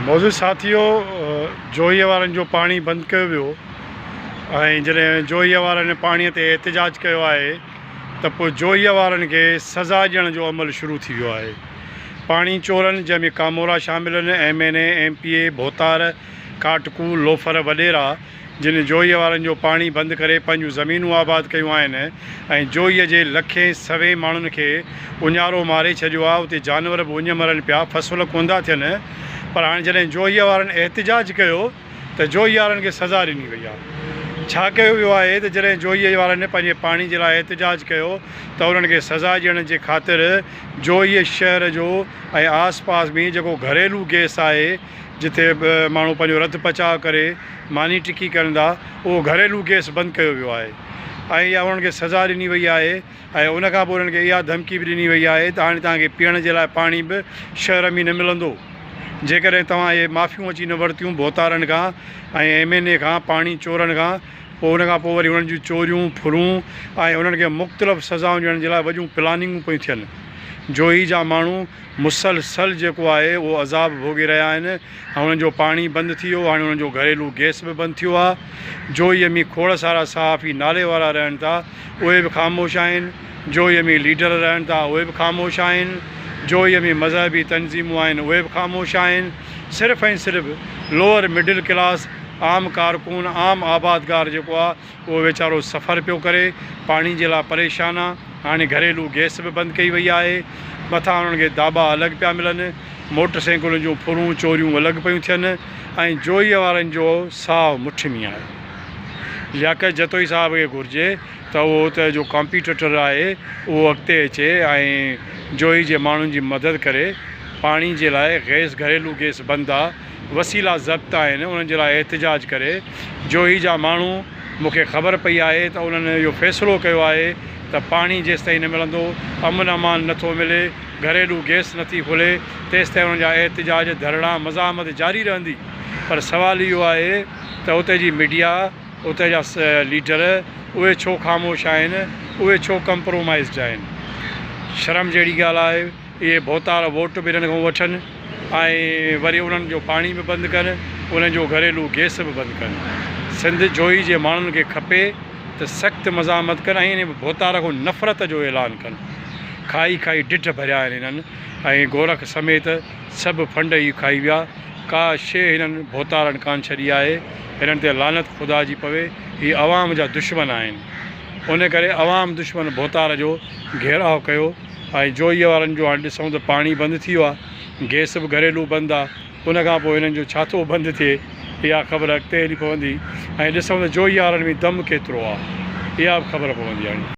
معزز ساٿيو جوهي وارن جو پاڻي بند ڪيو ويو ۽ جڏهن جوهي وارن پاڻي تي احتجاج ڪيو آهي ته پوء جوهي وارن کي سزا ڏيڻ جو عمل شروع ٿي ويو آهي پاڻي چورن جنهن ۾ ڪامورا شامل آهن M N A M P A ڀوتار ڪاٽڪو لوفر وڏيرا جن جوئي وارن جو پاڻي بند ڪري پنهنجون زمينون آباد ڪيون آهن ۽ جوئي جي لکين سوين ماڻهن کي اڃارو ماري ڇڏيو آهي اتي جانور به اڃ مرن پيا فصل ڪوندا ٿين پر هاڻي جڏهن جوئي وارن احتجاج ڪيو ته جوئي وارن کي سزا ڏني وئي آهي ڇا ڪيو ويو آهي ته جڏهن جوئي وارن پنهنجي پاڻي جي لاء احتجاج ڪيو ته انهن کي سزا ڏيڻ جي خاطر جوئي شهر جو ۽ آس پاس ۾ جيڪو گهريلو گئس آهي جتي به ماڻهو پنهنجو رڌ پچاء ڪري ماني ٽڪي ڪن ٿا اهو گهريلو گئس بند ڪيو ويو آهي ۽ اها انهن کي سزا ڏني وئي آهي ۽ ان کان پوء انهن کي اها ڌمڪي به ڏني وئي آهي ته هاڻي توهان کي پيئڻ جي لاء پاڻي به شهر ۾ نه ملندو جيڪڏهن توهان اهي معافيون اچي نه ورتيون ڀوتارن کان ۽ ايم اين اي کان پاڻي چورن کان پوء ان کان پوء وري انهن جون چوريون ڦرون ۽ انهن کي مختلف سزائون ڏيڻ جي لاء وڏيون پلاننگون پيون ٿين جوهي جا ماڻهو مسلسل جيڪو آهي اهو عذاب ڀوڳي رهيا آهن ۽ انهن جو پاڻي بند ٿي ويو هاڻي انهن جو گهريلو گئس به بند ٿيو آهي جويي ۾ کوڙ سارا صحافي نالي وارا رهن ٿا اهي به خاموش آهن جويي ۾ ليڊر رهن ٿا اهي به خاموش آهن جويي ۾ مذهبي تنظيمون آهن اهي به خاموش آهن صرف ۽ صرف لوئر مڊل ڪلاس عام ڪارڪن عام آبادگار جيڪو آهي اهو ويچارو سفر پيو ڪري، پاڻي جي لاء پريشان آ، هاڻي گهريلو گئس به بند ڪئي وئي آهي، مٿان انهن کي داٻا الڳ پيا ملن، موٽر سينڪلن جون ڦرون چوريون الڳ پيون ٿين ۽ جوئي وارن جو ساهه مٺ ۾ آهي. لياقت جتوئي صاحب کي گهرجي ته اهو اتي جو ڪمپيٽيٽر آهي اهو اڳتي اچي ۽ جوئي جي ماڻهن جي مدد ڪري، پاڻي جي لاء گئس گهريلو گئس بند آ، وسيلا ضبط آهن انهن جي لاء احتجاج ڪري جوهي جا ماڻهو مون کي خبر پئي آهي ته انهن اهو فيصلو ڪيو آهي ته پاڻي جيستائين نه ملندو امن امان نٿو ملي گهريلو گئس نٿي کلي تيستائين انهن جا احتجاج ڌرڻا مزاحمت جاري رهندي پر سوال اهو آهي ته اتي جي ميڊيا اتي جا ليڊر اهي ڇو خاموش آهن اهي ڇو ڪمپرومائزڊ آهن شرم جهڙي ڳالهه آهي. اهي ڀوتار ووٽ به انهن کان وٺن ۽ وري انهن جو پاڻي به بند ڪن انهن جو گهريلو گئس به بند ڪن سنڌ جوئي جي ماڻهن کي کپي ته سخت مزاحمت ڪن ۽ انهن ڀوتار کان نفرت جو اعلان ڪن کائي کائي ڍڍ ڀريا آهن هنن ۽ گورک سميت سڀ ڦنڊ ئي کائي ويا ڪا شيء هنن ڀوتارن ڪانه ڇڏي آهي هنن تي لعنت خدا جي پوي هي عوام جا دشمن آهن ان ڪري عوام دشمن ڀوتار جو گهيراء ڪيو ۽ جوئيء وارن جو هاڻ ڏسون ته پاڻي بند ٿي ويو آهي، گئس به گهريلو بند آهي، ان کان پوء هنن جو ڇا ٿو بند ٿئي، اها خبر اڳتي هلي پوندي ۽ ڏسون ته جوئيء وارن ۾ دم ڪيترو آهي، اها به خبر پوندي هاڻي.